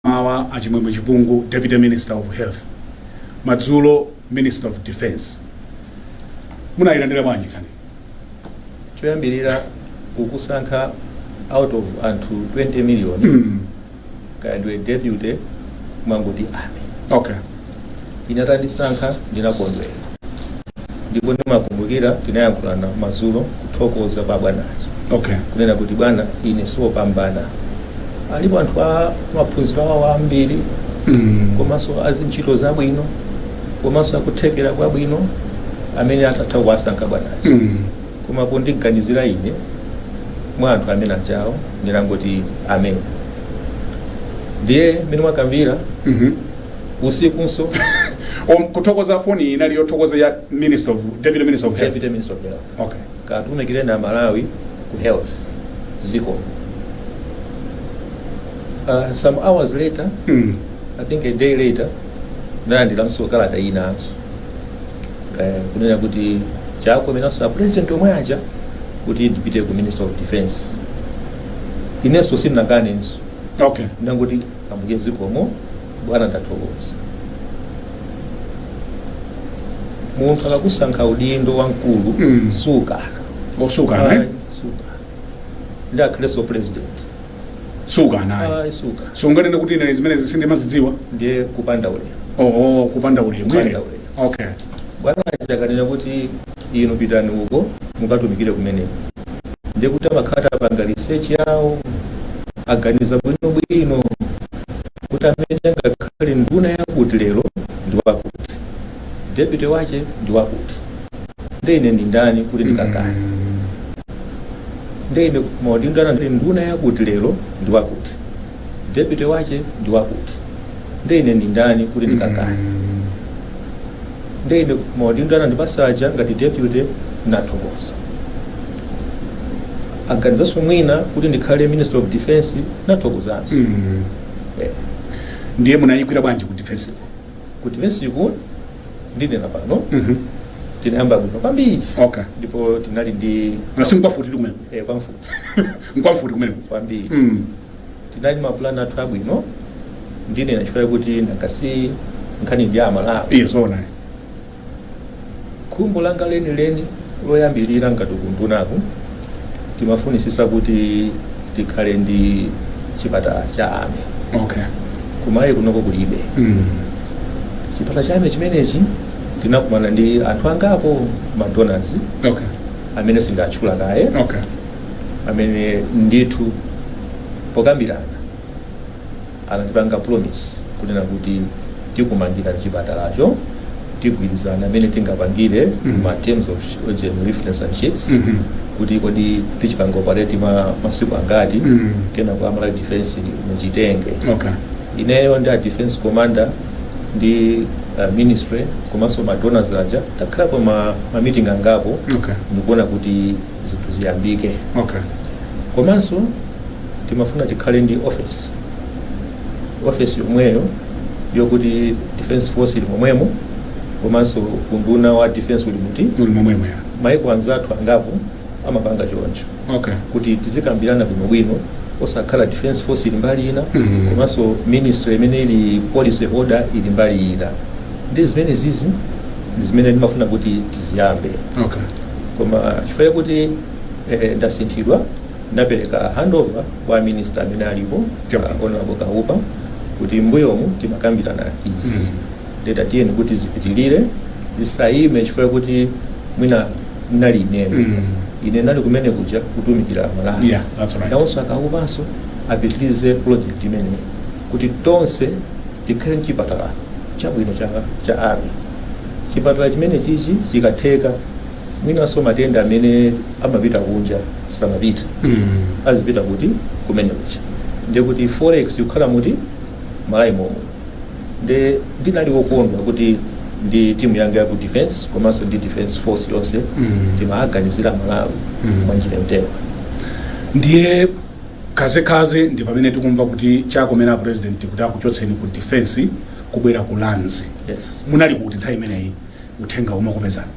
M'mawa, a Chimwemwe Chipungu, Deputy Minister of Health. Madzulo, Minister of Defence. Munayilandira bwanji nkhani? choyambirira kukusankha out of anthu 20 million Mm. kaya ndiwe deputy mwangoti army Okay. Ine atandisankha ndinakondwera ndipo ndimakumbukira tinayankhulana madzulo kuthokoza pa bwanazo Okay. kunena kuti bwana ine siwopambana alipo anthu a maphunziro awo ambiri Mm. komanso azintchito zabwino komanso akuthekera kwabwino amene atatha kuwasankha bwanazo Mm. koma pondiganizira ine mwa anthu amene ajawo ndinangoti amen ndiye mmene mwakambira Mhm. usikunso Om- kuthokoza foni iyi inali yothokoza ya minister of deputy minister of health deputy minister of health okay katumikireni amalawi ku health ziko uh, some hours later mm. i think a day later ndalandiranso kalata inanso Eh, kunena kuti chakomeranso a president omwe aja kuti ndipite ku minister of defense inenso sindinakanenso okay ndangoti Ambuye zikomo bwana ndathokoza. Munthu akakusankha udindo wamkulu Mm. sukana. osukana eh? Sukana. Ndi akhalenso president. sukana ayi. Ayi sukana. sunganene kuti ine zimenezi sindimazidziwa Ndiye kupanda ulemu. oho kupanda ulemu Kupanda eh? ulemu. okay Bwana akanena kuti inu pitani uko mukatumikire kumeneko ndiye kuti amakhala atapanga research yawo aganiza bwinobwino kuti amene angakhale nduna yakuti lero ndi wakuti deputy wache ndi wakuti nde ine ndi ndani kuti ndikakane nde ine maudindo ana ndili nduna yakuti lero ndi wakuti deputy wache ndi wakuti nde ine ndi ndani kuti ndikakane nde ine maudindo anandipasa aja ngati deputy nathokoza aganizanso mwina kuti ndikhale minister of defense nathokozanso Mm. Eh, ndiye munayigwira bwanji ku defense ku defense iku ndinena pano Mhm. tinayamba bwino kwambiri okay ndipo tinali ndi nansinkhu wafuti kumene eh, kwamfuti nkwamfuti kumene kwambiri Mm. tinali ndi mapulani athu abwino ndinena chifukwa chakuti ndakasi nkhani ndi amalawi yes zoona khumbo langa lenileni loyambirira ngati kundunaku timafunisisa kuti tikhale ndi chipatala cha army okay kumalawi kunoko kulibe Mm. chipatala cha army chimenechi tinakumana ndi anthu angapo madonors okay amene sinditchula kaye okay amene ndithu pokambirana anatipanga promise kunena kuti tikumangira chipatalacho tigwirizana amene tingapangire Mhm. ma terms of reference and sheets Mhm. kuti kodi tichipanga operate ma masiku angati Mhm. kena kwa a Malawi defense muchitenge okay ineyo ndi a defense commander ndi uh, ministry komanso ma donors aja takhalapo ma, ma meeting angapo Okay. ndikuona kuti zinthu ziyambike Okay. komanso timafuna tikhale ndi office office yomweyo yokuti defense force ili momwemo komanso unduna wa defense uli muti Muli momwemo ya. maiko anzathu angapo amapanga choncho okay kuti tizikambirana bwinobwino osakhala defense force ili mbali ina Mhm. komanso ministry imene ili policy holder ili mbali ina ndi zimene zizi ndi zimene ndimafuna kuti tiziyambe okay koma chifukwa chakuti eh, ndasinthidwa ndapereka handover kwa a minister amene alipo Yep. uh, honorable kaupa kuti mbuyomu timakambirana izi Mhm. ndiye tatiyeni kuti zipitirire zisayime chifukwa kuti mwina ndinali ineyo Mm. ine ndinali kumene kuja kutumikira amalawi Yeah, that's right. nawonso akaupanso apitirize project imeneyi kuti tonse tikhale mchipatala chabwino cha, cha army chipatala chimene chichi chikatheka mwinanso matenda amene amapita kunja samapita Mm. azipita kuti kumene kuja ndiye kuti forex ikukhala muti Malawi momwemo nde ndinali wokondwa kuti ndi timu yanga ya ku defense komanso ndi defense force yonse Mm. timaganizira malawi Mm. mwa njira yotero ndiye kazekaze ndi pamene tikumva kuti chakomera a president kuti akuchotseni ku defense kubwera ku lands yes. munali kuti nthawi imeneyi uthenga umakupezani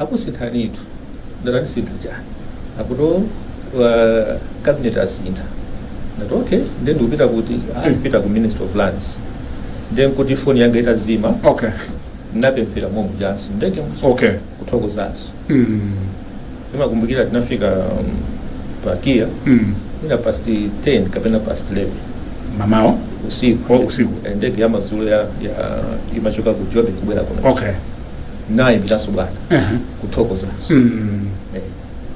Akusinthanitu ndati andisintha chani akuto uh, cabinet asintha ndati okay nde ndikupita kuti ndipita ku ministry of lands nde nkuti foni yanga itazima okay ndinapemphera momuja mu ndege okay kuthokozanso mm. ndimakumbukira tinafika um, pa kia mm. inali past 10 kapena past 11 mamawo usiku Oh, usiku. Eh, ndege yamazulo ya, ya imachoka ku jobe kubwera kuno okay ndayimbiranso bwana Aha. kuthokozanso Mm. Eh,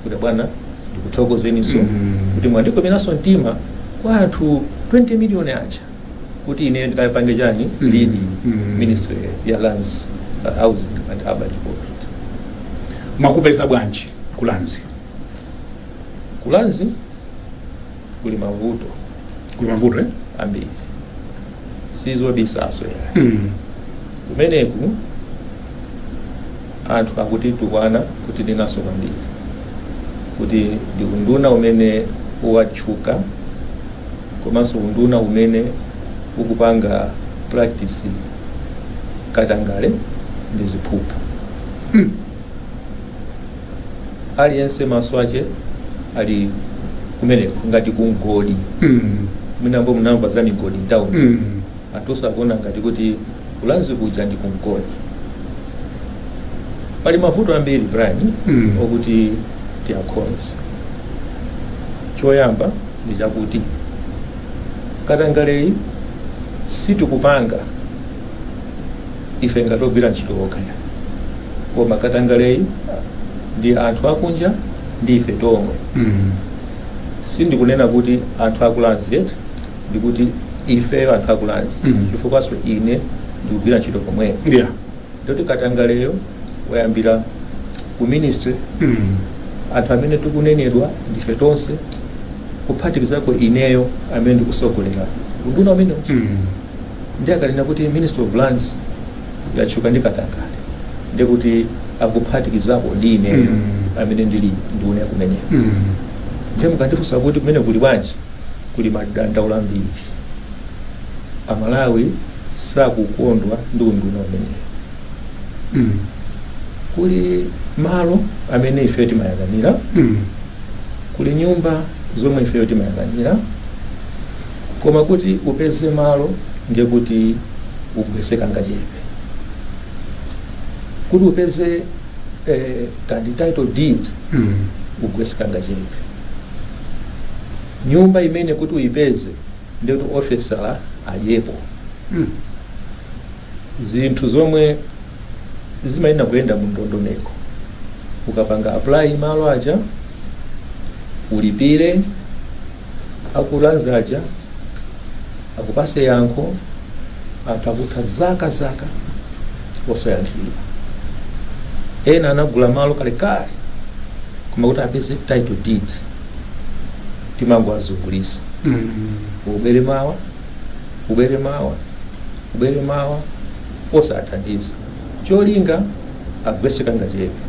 kuti bwana ndikuthokozeninso Mm. kuti mwandikomeranso mtima kwa anthu 20 miliyoni aja kuti ine ndikapange chani Mm. lead Mm. ministry ya lands uh, housing and urban development mwakupeza bwanji kulanzi kulanzi kuli mavuto kuli mavuto eh? ambiri sizobisaso mm. kumeneku anthu akutitukwana kuti ndinanso kwambiri kuti ndi unduna umene watchuka komanso unduna umene ukupanga practice katangale ndi ziphuphu mm. aliyense maso ache ali kumeneko ngati kumgodi Mm. mwinambo munamva za migodi mtauni Mm. anthunso akuona ngati kuti ku Lands kuja ndi kumgodi pali mavuto ambiri brian Mm. okuti tiakonze choyamba ndi chakuti katangaleyi sitikupanga Ife ngati ogwira ntchito okha ayi koma katangaleyi ndi anthu akunja ndi ife tomwe. Sindikunena kuti anthu aku Lands eti ndikuti ifeyo anthu aku Lands Mm. chifukwanso ine ndikugwira ntchito pomweyo Yeah. ndikuti katangaleyo wayambira ku ministry Mm. anthu amene tikunenedwa ndife tonse kuphatikizako ineyo amene ndikusogolera unduna umenewo Mm. Ndiye akanena kuti Ministry of Lands yatchuka ndi katangale ndiye kuti akuphatikizako ndi ineyo Mm. amene ndili nduna kumeneko Mm. ndiye mukandifunsa kuti kumene kuli bwanji kuli madandaulo ambiri amalawi sakukondwa ndi unduna umenewu Mm. kuli malo amene ifeyo timayang'anira Mm. kuli nyumba zomwe ifeyo timayang'anira Koma kuti upeze malo ndiye kuti ugwetse kangachepe. Kuti upeze eh, ka title deed Mm. ugwetse kangachepe. Nyumba imene kuti uipeze ndiye kuti ofesala adyepo. Mm. zinthu zomwe zimayenera kuyenda mu ndondomeko ukapanga apply malo aja ulipire aku Lands aja akupase yankho anthu akutha zaka zaka osayankhidwa ena anagula malo kalekale koma kuti apeze title deed timangoazungulisa ubwere mawa ubwere mawa ubwere mawa osawathandiza cholinga agwese kangachepe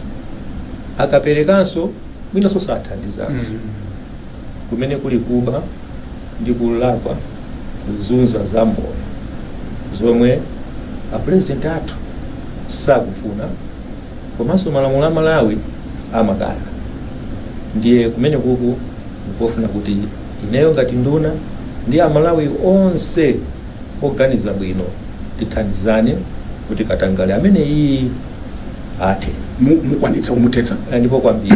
akaperekanso mwinanso osawathandizanso kumene kuli kuba ndi kulakwa kuzunza za moyo zomwe a president athu sakufuna komanso malamulo a malawi amakana ndiye kumene kuku nkofuna kuti ineyo ngati nduna ndi amalawi onse oganiza bwino tithandizane kuti katangale ameneyu athe Mu- mukwanitsa kumuthetsa Eh, ndipo kwambiri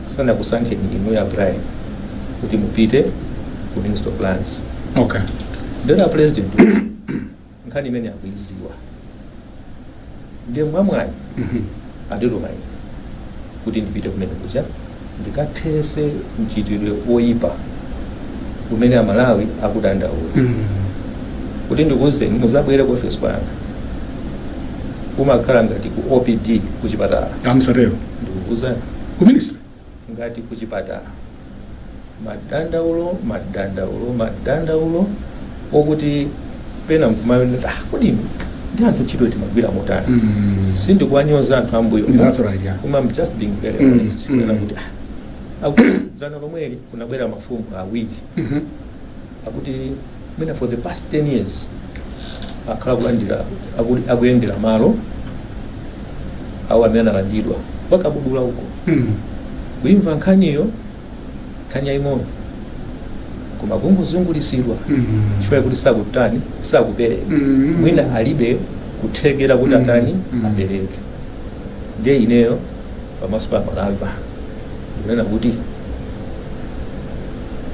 sanakusankheni inuyo a brian kuti mupite ku ministry of lands okay ndiye a president nkhani imene akuiziwa ndiye mwamwayi andituma ine kuti ndipite kumene kuja ndikathese mchitidwe oyipa umene amalawi akudandaula kuti ndikuuzeni muzabwere ku ofesi kwanga kumakhala ngati ku opd ku chipatala musatero ndikukuuzani ku ministry ngati ku chipatala madandaulo madandaulo madandaulo okuti pena nkumanena ah, kodi ife ndi anthu ntchito timagwira motani Mm. sindikuwanyoza anthu ambuyo That's right, yeah. koma I'm just being very Mm, honest mm. Kunena kuti, ah, ngati dzana lomweli kunabwera mafumu awiri Mhm. akuti mwina for the past 10 years akhala kulandira aku- akuyendera malo awo amene analandidwa kwa Kabudula uko Mm. kuimva nkhaniyo nkhani yaying'ono koma kungozungulisidwa Mm. chifukwa choti sakutani sakupereka Mm. mwina alibe kuthekera kuti Mm. atani Mm. apereke ndiye ineyo pamaso pa malawi ndikunena kuti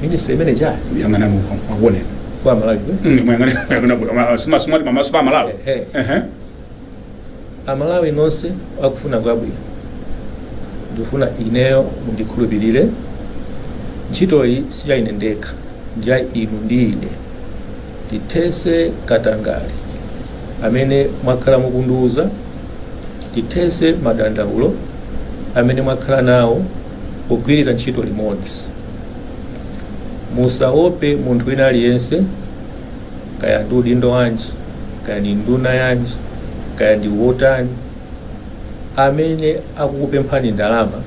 ministry imene chali Yang'ana mu akuone. kwa malawi Mm, Muyang'ane muyang'ana ku sima sima pamaso pa Malawi. Ehe. Ehe. amalawi nonse akufuna kwabwino ndikufuna ineyo mundikhulupirire ntchitoyi si ya ine ndekha ndi ya inu ndi ine tithese katangale amene mwakhala mukundiuza tithetse madandaulo amene mwakhala nawo pogwirira ntchito limodzi. Musaope munthu wina aliyense, kaya ndi udindo wanji, kaya ndi nduna yanji, kaya ndi wotani, amene akukupemphani ndalama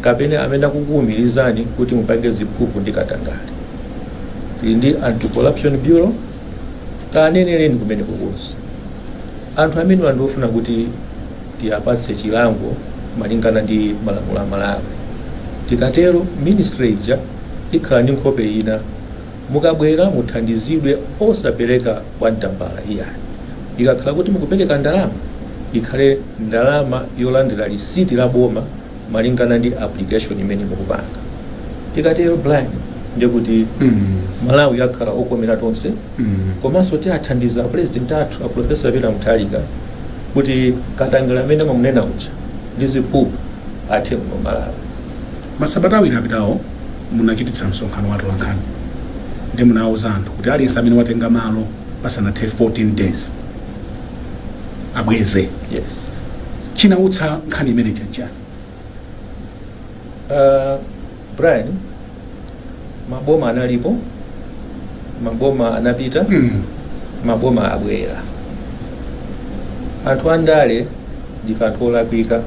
kapena amene akukuwumirizani kuti mupange ziphuphu ndi katangale. Tili ndi Anti-Corruption Bureau. Kaneneleni kumeneko konse anthu amenewa ndiofuna kuti tiapatse chilango malingana ndi malamulo a Malawi. Tikatero ministry ija ikhala ndi nkhope ina. Mukabwera muthandizidwe osapeleka kwacha tambala iyayi. Ikakhala kuti mukupeleka ndalama ikhale ndalama yolandira lisiti la boma. malingana ndi application imene mukupanga tikatero blind ndikuti malawi akhala okomera tonse komanso tiathandiza apresident athu aprofesa Peter Mutharika kuti katangale amene amamunena uja ndi ziphuphu athe muno mmalawi masabata awiri apitawo munachititsa msonkhano wa atolankhani ndi munawuza anthu kuti aliyense amene watenga malo pasanathe 14 days abweze yes chinautsa nkhani imeneyi nchiyani Uh, Brian, maboma analipo, maboma anapita, mm. maboma abwera. Anthu andale ndife anthu olakwika,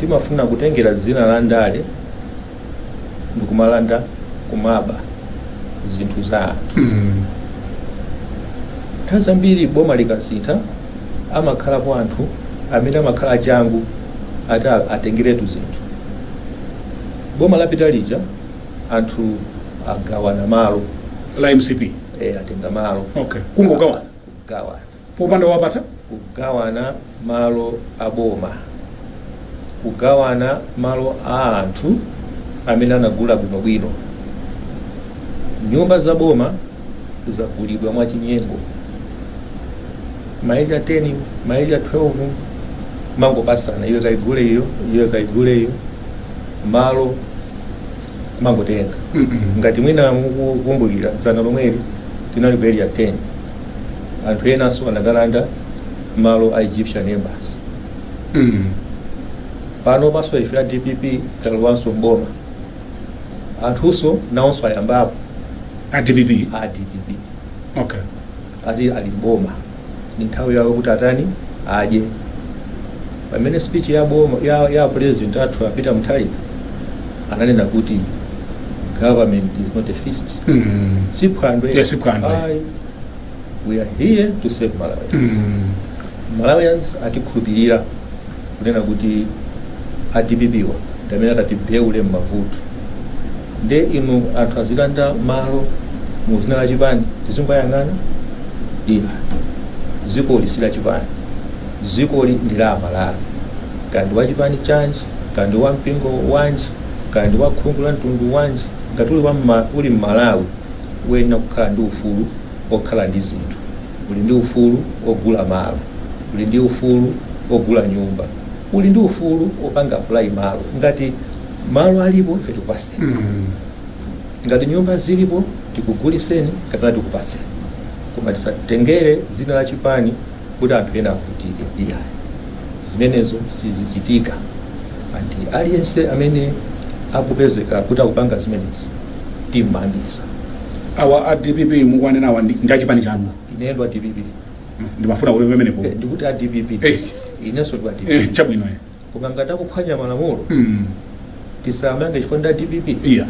timafuna kutengera dzina la ndale ndikumalanda kumaba zinthu za anthu Mm. nthawi zambiri boma likasintha amakhalapo anthu amene amakhala achangu ati a- atengeretu zinthu boma lapita lija anthu agawana malo a mcp eh, atenga malo okay kungogawana kugawana popanda wowapatsa. kugawana malo a boma, kugawana malo a anthu amene anagula bwinobwino. Nyumba za boma zagulidwa mwachinyengo, ma area 10 ma area 12 amangopasana, iwe kaigule iyo, iwe kaigule iyo, malo amangotenga ngati mwina mukukumbukira dzana lomweli tinali ku area 10 anthu enanso anakalanda malo a egyptian embassy Mm. pano panso ife a dpp talowanso mboma anthunso nawonso ayambapo a dpp a dpp okay ati ali mboma ni nthawi yawo kuti atani adye pamene speech ya boma ya, ya president athu a Peter Mutharika ananena kuti government is not a feast Mm. si phwando Yes, si phwando. Ayi. we are here to serve malawians Mm. malawians atikhulupirira kunena kuti a dpp wa ndamene atatiwombole mmavuto nde inu anthu azilanda malo mu zina la chipani tizingoyang'ana ayi zikoli si la chipani zikoli ndi la amalawi kaya ndi wa chipani chanji kaya ndi wa mpingo wanji kaya ndi wa khungu la mtundu wanji ngati uli, wa mma, uli mmalawi uyenera kukhala ndi ufulu okhala ndi zinthu uli ndi ufulu ogula malo uli ndi ufulu ogula nyumba uli ndi ufulu opanga apply malo ngati malo alipo ife tikupase ngati nyumba zilipo tikuguliseni kapena tikupatseni koma tisatengere dzina la chipani kuti anthu ena avutike iyayi zimenezo sizichitika and aliyense amene akupezeka kuti akupanga zimenezi timmangitsa awa a dpp mukuwanena awa ndi achipani chanu ine ndi wa dpp ndimafuna kuti pamenepo Eh, ndikuti a dpp Eh. inenso ndi wa dpp Eh, chabwino eh. koma ngati akuphwanya malamulo Mm. tisawamange chifukwa nda dpp iya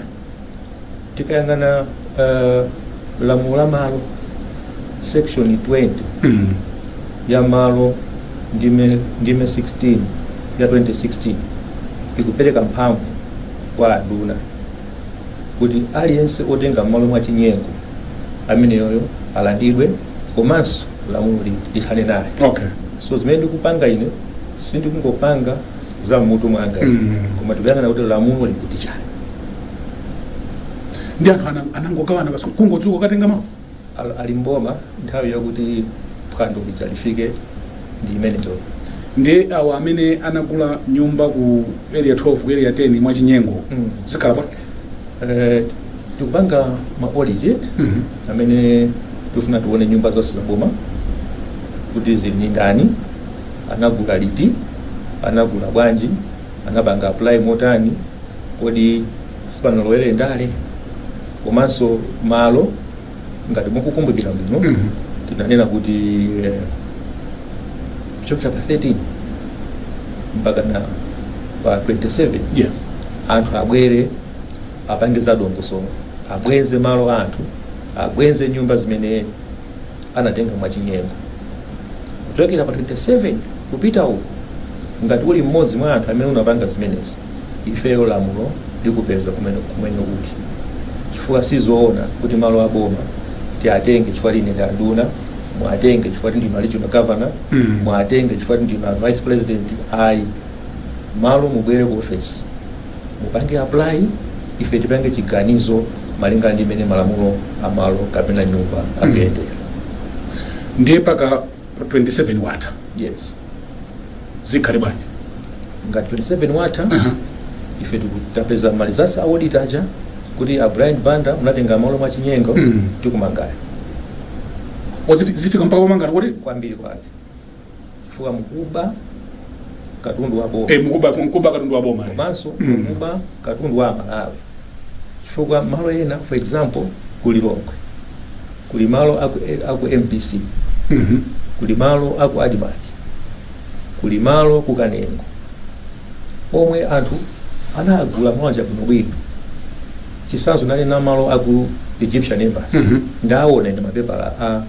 tikayang'ana eh, lamulo la malo section 20 Mm. ya malo ndime ndime 16 ya 2016 ikupereka mphamvu kwa anduna kuti aliyense otenga malo mwa chinyengo ameneyoyo alandidwe komanso lamulo li- lithane naye okay so zimene ndikupanga ine sindikungopanga za mmutu mwanga Mm. koma tikuyang'ana kuti lamulo likuti chani ndi anthu ana- anangogawana basi kungodzuka kutenga malo Al- ali mboma nthawi yakuti phwando lidzalifike ndi imeneyo ndi awo amene anagula nyumba ku area 12 ku area 10 mwachinyengo Mm. zikhala bwanji Eh, tikupanga ma audit Mhm. amene tifuna tione nyumba zonse za boma kuti zili ndi ndani Anagula liti? Anagula bwanji? Anapanga apply motani? Kodi sipanalowere ndale? Komanso malo ngati mukukumbukira bwino tinanena kuti eh, kuchokera pa 13 mpaka na pa 27 Yeah. anthu abwere apange za dongosolo abweze malo anthu abweze nyumba zimene anatenga mwachinyengo. Kuchokera pa 27 kupita uko, ngati uli mmodzi mwa anthu amene unapanga zimenezi, ifeyo lamulo likupeza kumene uli, chifukwa sizoona kuti malo a boma tiatenge chifukwa ine ndi anduna, muatenge chifukwa kuti ndinu a regional governor, muatenge chifukwa kuti ndinu a vice president, ayi malo mubwere ku ofesi. mupange apply ife tipange chiganizo malingana ndi mmene malamulo a malo kapena nyumba akuyendera ndiye pa 27 watha yes zikhale bwanji ngati 27 watha Aha. ife tikatapeza malinga za audit zija kuti a brian banda munatenga malo mwa chinyengo Mm. tikumangani O, ziti- zifika mpaka pomangana kuti kwambiri kwake chifukwa mukuba katundu wa boma Eh, mukuba mukuba katundu wa boma. komanso Mm. mukuba katundu wa amalawi chifukwa malo ena for example ku lilongwe kuli malo aku, eh, aku mbc Mhm. kuli malo aku admarc kuli malo ku kanengo omwe anthu anagula mawanja bwinobwino chitsanzo ndanena malo aku egyptian embassy Mhm. ndaona mapepala a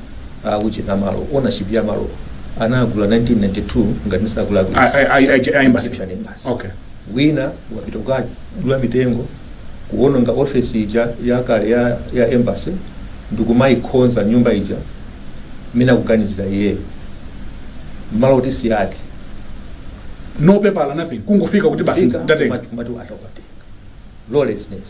a ujeni amalo ownership ya malo anagula 1992 ngati ndisakulakwisa A- a- a- a- a- embassy. Reception embassy. Okay. wina wapita kukadula mitengo kuononga ofesi ija yakale ya, ya embassy ndikumayikhonza nyumba ija mina kuganizira iyeyo mmalo kuti si ake no paper nothing kungofika kuti basi Fika, ndatenga kumati- kumati atakutenga lawlessness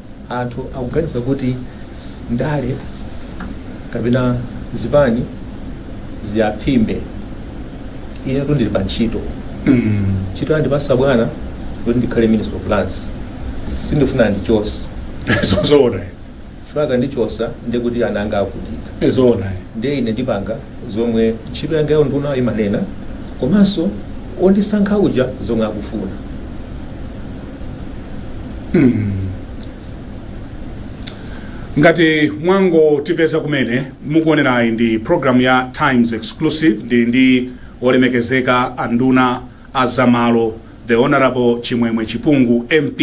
Anthu akuganiza kuti ndale kapena zipani ziyaphimbe. Inetu ndili pa ntchito. Ntchito anandipasa bwana kuti ndikhale Minister of Lands. Sindifuna andichose. Zoona. Chifukwa akandichosa ndiye kuti ana anga avutika. Zoona. Ndiye ine ndipanga zomwe ntchito yanga ya undunayo imanena komanso ondisankha uja zomwe akufuna. ngati mwangotipeza kumene mukuonerayi ndi program ya times exclusive ndili ndi olemekezeka anduna a zamalo the honorable chimwemwe chipungu mp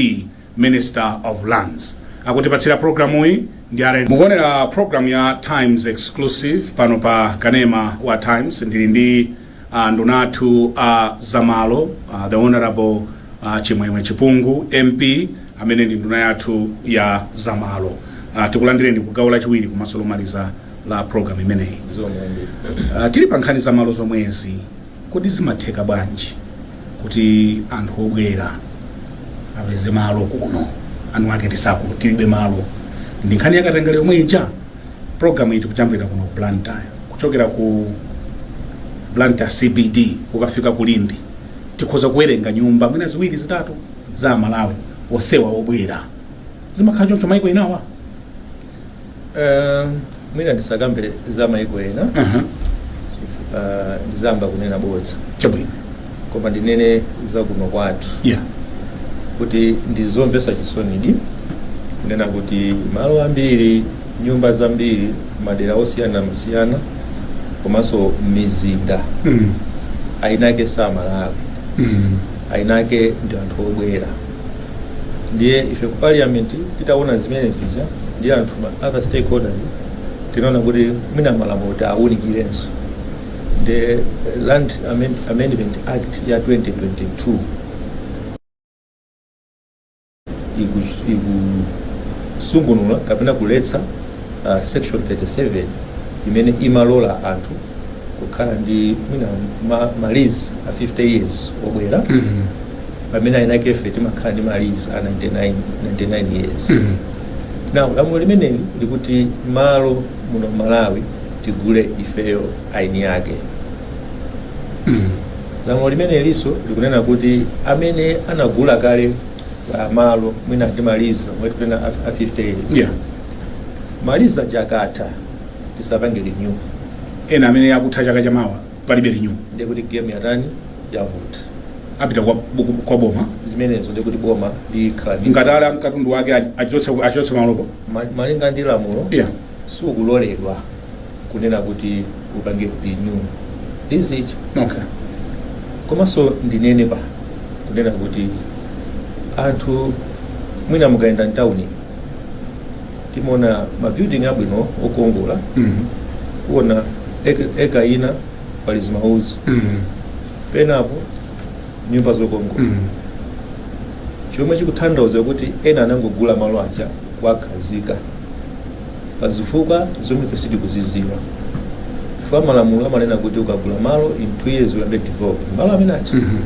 minister of lands akutipatsira programu iyi ndi are mukuonera program ya times exclusive pano pa kanema wa times ndili ndi uh, nduna athu a uh, zamalo uh, the honorable uh, chimwemwe chipungu mp amene ndi nduna yathu ya zamalo uh, tikulandireni ku gawo lachiwiri komanso lomaliza la program imeneyi uh, tili pa nkhani zamalo zomwezi kodi zimatheka bwanji kuti anthu obwera apeze malo kuno eni ake tisaku tilibe malo ndi nkhani ya katangale yomwe ija Program iyi tikujambulira kuno ku Blantyre kuchokera ku Blantyre CBD kukafika ku Limbe tikhoza kuwerenga nyumba mwina ziwiri zitatu za Amalawi onsewa obwera zimakhala choncho maiko enawa Eh, mwina ndisakambe za maiko ena uh -huh. eh, ndizamba kunena bodza chabwino koma ndinene za kuno kwathu yeah. kuti ndi zomvetsa chisonidi kunena kuti malo ambiri nyumba zambiri madera osiyanasiyana komanso m'mizinda mm. eni ake si Amalawi mm. eni ake ndi anthu obwera ndiye ife ku parliament titaona zimene zija ndi anthu ma other stakeholders tinaona kuti mwina malamulo tiawunikirenso the Land Amend Amendment Act ya 2022 ikusungunula kapena kuletsa uh, section 37 imene imalola anthu kukhala ndi mwina ma, malizi a 50 years obwera mm -hmm. pamene eni ake ife timakhala ndi malizi a 99, 99 years mm -hmm. now lamulo limeneli likuti malo muno m'Malawi tigule ifeyo eni ake lamulo limeneliso likunena kuti amene anagula kale ah, malo mwina ndi ma lease omwe tikunena a- a 50 years yeah ma lease aja akatha tisapange renew ena amene akutha chaka chamawa palibe renew ndiye kuti game yatani yavuta apita kwa, kwa boma zimenezo ndiye kuti boma likhala ndi ngati ali amkatundu wake achotse achotse malopo Ma- malinga ndi lamulo yeah sukuloledwa kunena kuti upange renew lease ijo Okay. komanso ndinenepo kunena kuti anthu mwina mukayenda mtawuni timaona mabuilding abwino okongola Mhm. kuona eka- eka ina pali zimaudzu Mhm. penapo nyumba zokongola mm. chomwe chikutanthauza kuti ena anangogula malo aja kuwakhazika pa zifukwa zomwe ife sitikuzidziwa chifukwa malamulo amanena kuti ukagula malo in two years uyambe develop malo amene aja Mhm.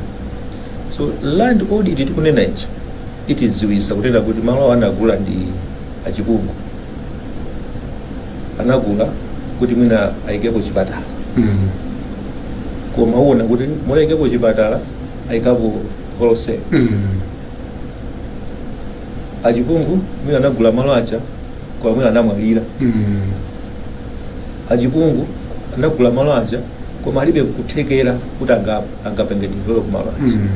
so land audit tikunena ija itidziwitsa kunena kuti malo awo anagula ndi achipungu anagula kuti mwina ayikepo chipatala Mm. koma uona kuti mmalo ayikepo chipatala ayikapo wholesale Mm. achipungu mwina anagula malo aja koma mwina anamwalira Mm. achipungu anagula malo aja koma alibe kuthekera kuti anga- angapange develop malo aja Mm.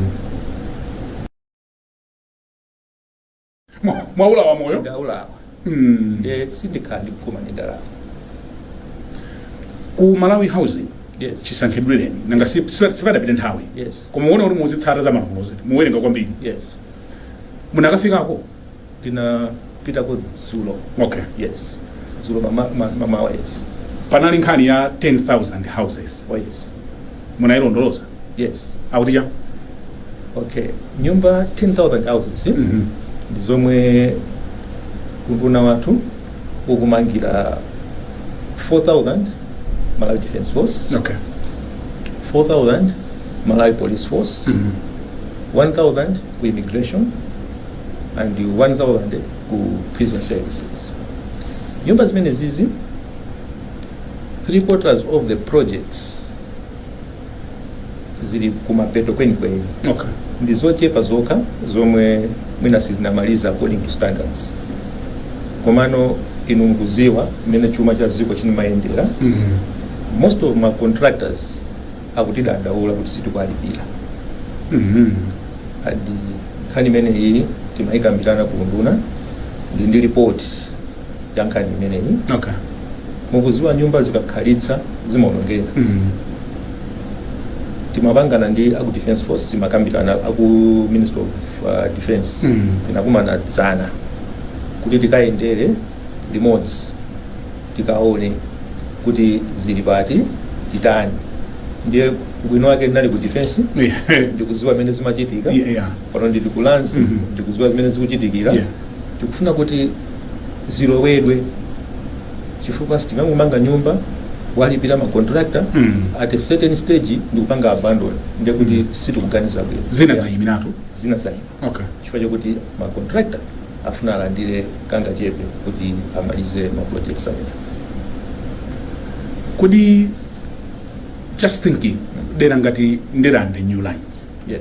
Mwa- mwaula wa moyo ndaula wa Mm. nde sindikhala ndikuphuma ndi ndalama ku malawi housing yes chisankhidwireni nanga si- si- sipadapite nthawi yes koma muone kuti muzitsata za malamulo ziti mumawerenga kwambiri yes munakafikako ndinapitako dzulo okay yes dzulo mama- ma- mamawa yes panali nkhani ya 10000 houses oh yes munailondoloza yes akuti chani okay nyumba 10000 houses Mhm. ndi zomwe unduna wathu ukumangira 4000 malawi defense force okay 4000 malawi police force Mhm. 1000 ku immigration and 1000 ku prison services nyumba zimenezizi three quarters of the projects zili kumapeto kwenikweni okay ndi zochepa zokha zomwe mwina sizinamalize according to standards komano inu mukudziwa mmene chuma cha dziko chimayendera mm. most of ma contractors akutidandaula kuti sitikuwalipira mm. and nkhani imene iyi timayikambirana ku unduna ndi ndi report ya nkhani imeneyi okay mukuziwa nyumba zikakhalitsa zimaonongeka mm. timapangana ndi aku defense force timakambirana aku ministry of uh, defense Mm. tinakumana dzana kuti tikayendere limodzi tikaone kuti zili pati titani ndiye bwino wake ndinali ku defense yeah ndikuziwa mmene zimachitika yeah, yeah. pano ndili ku lands Mhm. ndikudziwa zimene zikuchitikira Yeah. tikufuna kuti zilowedwe chifukwa sitingangomanga nyumba walipira macontractor Mm. at a certain stage ndikupanga abandon ndekuti Mm. sitikuganiza bwino zina Yeah. zayimiratu zina zaima okay chifukwa chakuti macontractor afuna alandire kangachepe kuti amalize maprojects amene kodi just thinking dera ngati ndirande new lines yes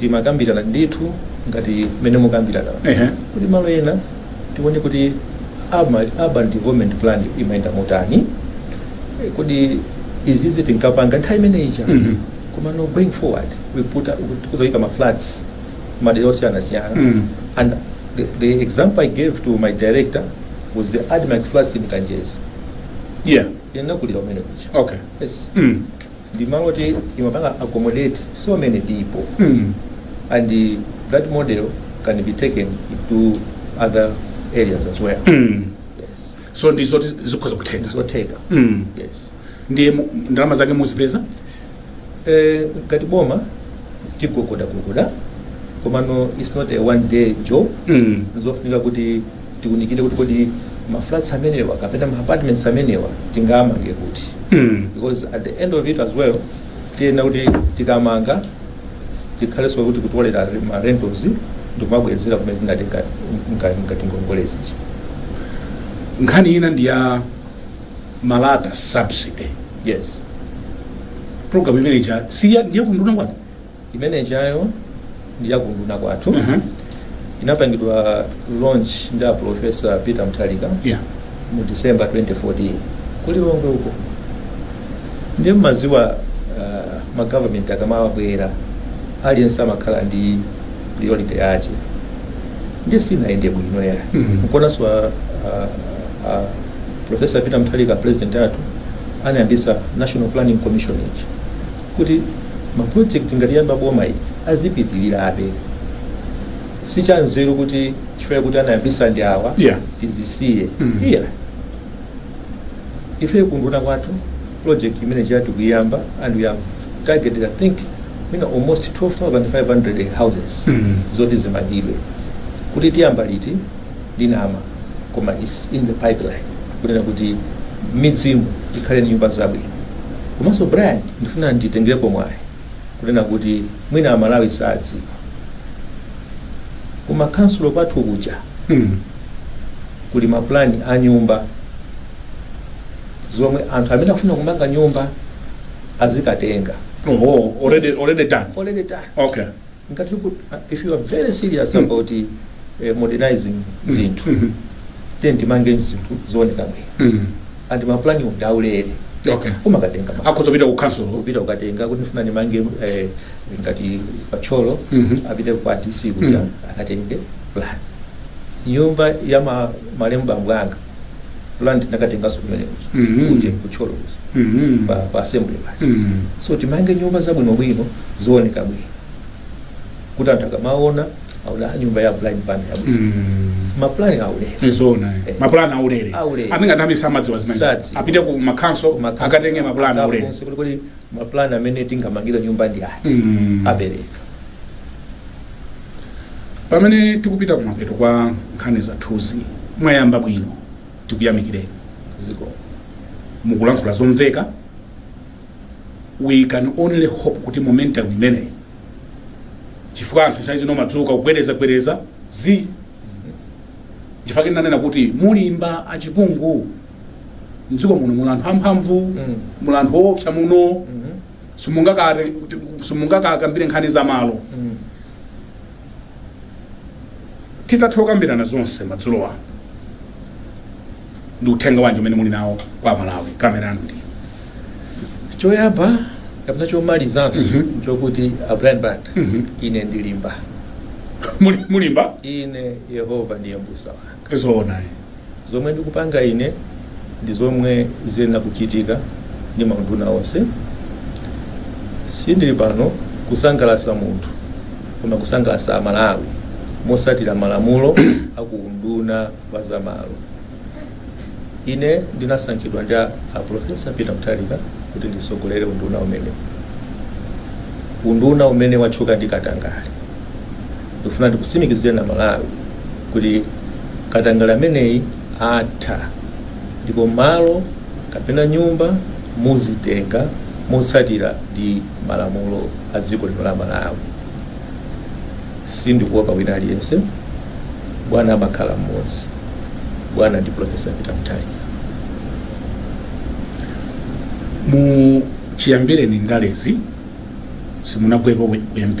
timakambirana ndithu ngati mmene mukukambira Ehe. kuti malo ena tione kuti urban, urban development plan imayenda motani Eh, kodi izizi tinkapanga nthawi imene ija Mhm. koma no going forward we put up- we- tikuzaika ma flats madera osiyanasiyana Mm. and the, the example i gave to my director was the admarc flats in kanjedza yeah ndinakulira kumene kuja okay yes mm. ndi malo oti imapanga accommodate so many people and that model can be taken to other areas as well yes. so ndi zoti zikhoza kutheka zotheka Mm. yes ndiye ndalama zake muzipeza Eh, ngati boma tigogodagogoda komano its not a one day job Mm. zofunika kuti tiunikire kuti kodi ma flats amenewa kapena ma apartments amenewa tingamange kuti Mm. because at the end of it as well tiyenera kuti tikamanga tikhalenso kuti kutolera ma rentals ndikumabwezera kumene tinatenga nga- nga- ngati ngongole nkhani ina ndi ya malata subsidy yes program imene ija siya ndiye kunduna kwanu imene ijayo ndi ya kunduna kwathu uh -huh. inapangidwa launch ndi a professor peter mutharika yeah. mu december 2014 ku lilongwe uko ndiye mmaziwa uh, ma government akamabwera aliyense amakhala ndi priority yake ndiye sinayende bwino ya mm -hmm. nkuonanso uh, uh, professor peter mutharika apresident athu anayambisa national planning commission ichi kuti ma project ngati ya boma iyi azipitilirabe sichanzeru kuti chifukwa kuti anayambisa ndi awa Yeah. tizisiye Mm. yeah ife kunduna kwathu project imene ija tikuyiyamba and we have targeted i think mina almost 12500 houses Mm. zoti zimangidwe kuti tiyamba liti sindinama koma its in the pipeline kunena kuti m'midzimu tikhale ndi nyumba zabwino komanso brian ndifuna nditengerepo mwayi kunena kuti mwina amalawi sadziwa kuma kansulo kwathu kuja Mm. kuli mapulani a nyumba zomwe anthu amene akufuna kumanga nyumba azikatenga Oho, already already done. already done Okay. ngati ku- if you are very serious about eh, modernizing zinthu Mhm. then timange zinthu zooneka bwino Mhm. and mapulani ndi aulere okay kumakatenga ma- akhoza kupita ku council kupita kukatenga kuti ndifuna ndimange eh, ngati pa Thyolo Mhm. apite kwa dc kuja Mhm. akatenge plan nyumba ya ma- malemu bambo anga plan tinakatenganso kumene kuja Mhm. kuti ku Thyolo kuja Mhm. pa pa assembly paja Mhm. so timange nyumba zabwinobwino zooneka bwino kuti anthu akamaona aona nyumba ya Brian Banda yabwino Mhm. maplani aulere Ndi zoona. Eh. Mapulani aulere. Aulere. Ambiri mwina ambiri samadziwa zimene. Sadziwa. Apite ku makhansolo Makhansolo akatenge mapulani aulere. akafunse kuti kodi maplani amene tingamangira nyumba ndi ati Mhm. apereka Pamene tikupita kumapeto kwa nkhani zathuzi, mwayamba bwino, tikuyamikireni. Ziko mukulankhula zomveka, we can only hope kuti momentum imeneyi, chifukwa anthu nthawi zina amadzuka kugwereza gwereza zi chifukwa chake ndanena kuti mulimba a Chipungu mdziko muno muli anthu amphamvu, Mm. muli anthu oopsa muno simungakare- simungakakambire nkhani za malo Mm. titatha kukambirana zonse madzulo ano ndi uthenga wanji umene muli nawo kwa Amalawi kamera yanu ndi iyo choyamba kapena chomalizanso Mhm. chokuti a Brian Banda Mhm. ine ndilimba Muli- mulimba ine yehova ndiye mbusa wanga zoona ayi. Zomwe ndikupanga ine ndi zomwe ziyenera kuchitika ndi maunduna onse. Sindili pano kusangalatsa munthu koma kusangalatsa Amalawi motsatira malamulo a ku unduna wa zamalo. Ine ndinasankhidwa ndi a Prof. Peter Mutharika kuti nditsogolere unduna umenewu, unduna umene watchuka ndi katangale. Ndikufuna ndikutsimikizireni Amalawi kuti katangale ameneyi atha ndipo malo kapena nyumba muzitenga motsatira ndi malamulo a dziko lino la Malawi. Sindikuopa wina aliyense. Bwana amakhala mmodzi. Bwana ndi Pulofesa Peter Mutharika. Mu chiyambireni ndalezi simunagwepo pa u MP.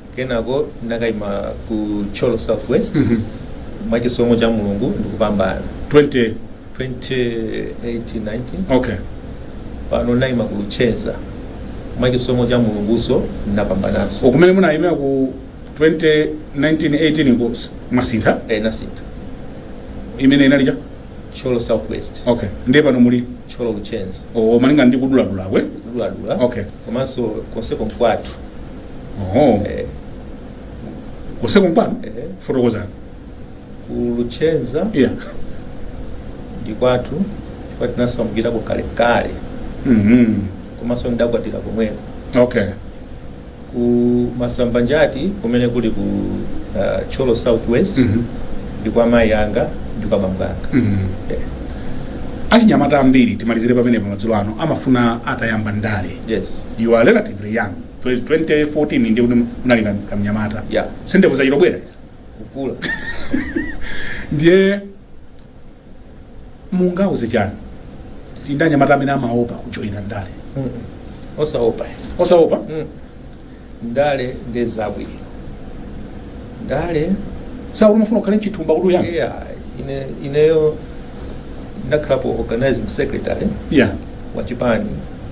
kenako nakaima ku Thyolo south west mwachisomo cha mulungu ndikupambana 20 2018-19 okay pano naima ku Luchenza mwachisomo cha mulunguso napambanaso kumene munayimira ku 2019-18 ko s- mwasintha eh nasintha imene inalija Thyolo south west okay ndiye pano muli Thyolo Luchenza o malinga ndi kuduladula kwe kuduladula Okay. komanso konseko mkwathu Oh. Eh, Konseko nkwanu? eh, Fotokozani. ku Luchenza Yeah. ndi kwathu chifukwa tinasamukirako kalekale Mhm. komanso ndidakwatira komweko Okay. ku Masambanjati kumene kuli ku uh, Thyolo southwest Mhm. ndi kwa mayi anga ndi kwa bambo anga Mhm. Eh, Achinyamata ambiri timalizire pamene pamadzulo ano amafuna atayamba ndale. yes You are relatively young. Bwezi 2014 ndiye kuti munali kam- kamnyamata Yeah. si ndevu zachita kubwera izi. kukula ndiye mungauze chani tianyamata amene amaopa kujoyina ndale osaopa osaopa Mm. ndale ndi zabwino ndale sumafuna ukhale nchithumba kuti uyambe yeah, ine ineyo ndakhalapo organizing secretary yeah. wa chipani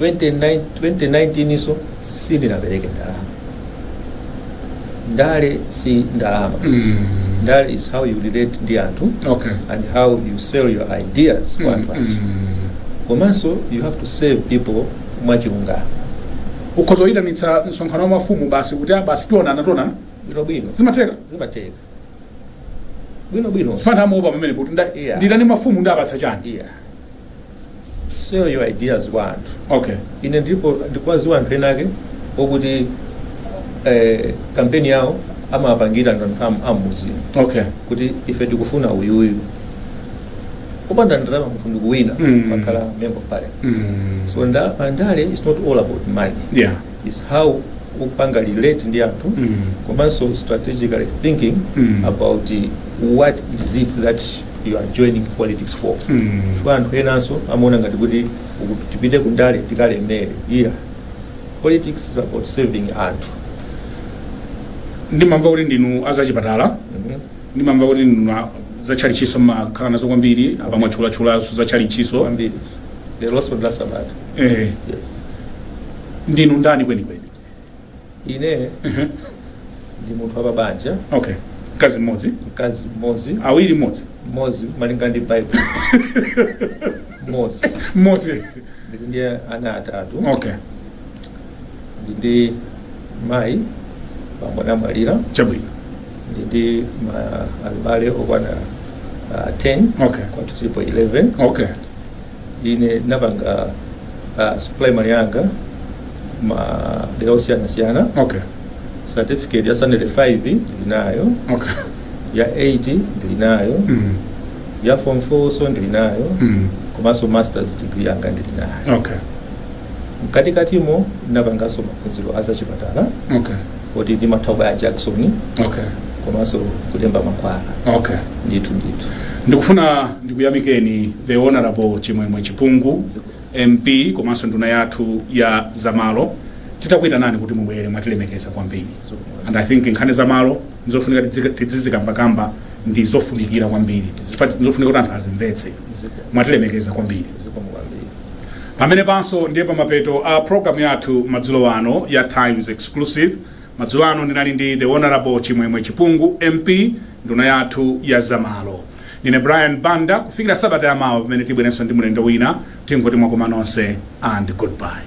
2019 so sindinapereke ndalama ndale si ndalama Mm. ndale is how you relate ndi anthu Okay. and how you sell your ideas kwa anthu anthu Mm. komanso you have to serve people mwachilungamo ukhoza kuyitanitsa msonkhano wa mafumu basi kuti ah, basi tionana tionana bwino bwino zimatheka zimatheka bwino bwino chifukwa anthu amaopa pamene kuti nda- Yeah. nditani mafumu ndiapatsa chani yeah sell your ideas kwa anthu okay ine ndipo ndikuwaziwa anthu enake okuti eh, kampeni yawo amapangira anthu am- ammudzi okay kuti ife tikufuna uyuyu kupanda ndalama munthu ndikuwina Mm. nkukhala member of parliament mm. so nda, pandale is not all about money yeah it's how ukupanga relate ndi anthu Mm. komanso strategically thinking Mm. about eh, what is it that you are joining politics for Mm. chifukwa anthu enanso amaona ngati kuti uku- tipite kundale tikalemere iya politics is about serving anthu ndimamva kuti ndinu azachipatala Mhm. ndimamva kuti ndinu a- zatchalitchiso mumakhala nazo kwambiri apa mwatchulatchulaso zatchalitchiso kwambiri lero sondasamata eh, yes ndinu ndani kwenikweni ine ndi munthu wapabanja okay mkazi mmodzi mkazi mmodzi awiri mmodzi mmodzi malinga ndi Bible mmodzi mmodzi ndili ndi ana atatu okay ndili ndi mayi bambo anamwalira chabwino ndili ndi ma- abale okwana ah, 10 Okay. kwathu tilipo 11 okay ine napanga uh, primary yanga ma dera osiyana siyana okay certificate ya standard 5 ndilinayo okay ya 8 ndilinayo mm. ya form 4 so ndilinayo Mm. komanso masters degree yanga ndilinayo okay mkatikatimo napanganso maphunziro azachipatala okay kuti timatha kubaya jakisoni okay komanso kulemba mankhwala okay ndithu ndithu ndikufuna ndikuyamikeni the honorable chimwemwe chipungu mp komanso nduna yathu ya zamalo titakuyitanani kuti mubwere mwatilemekeza kwambiri and i think nkhani zamalo ndizofunika tidzizi- tidzizikambakamba ndi zofunikira kwambiri Chifukwa ndizofunika kuti anthu azimvetse mwatilemekeza kwambiri pamene panso ndiye pa mapeto a program yathu madzulo ano ya times exclusive madzulo ano ndinali ndi the honorable chimwemwe chipungu mp nduna yathu ya zamalo ndine brian banda kufikira sabata yamawa pamene tibwerenso ndi mlendo wina tingoti mwakoma nonse and goodbye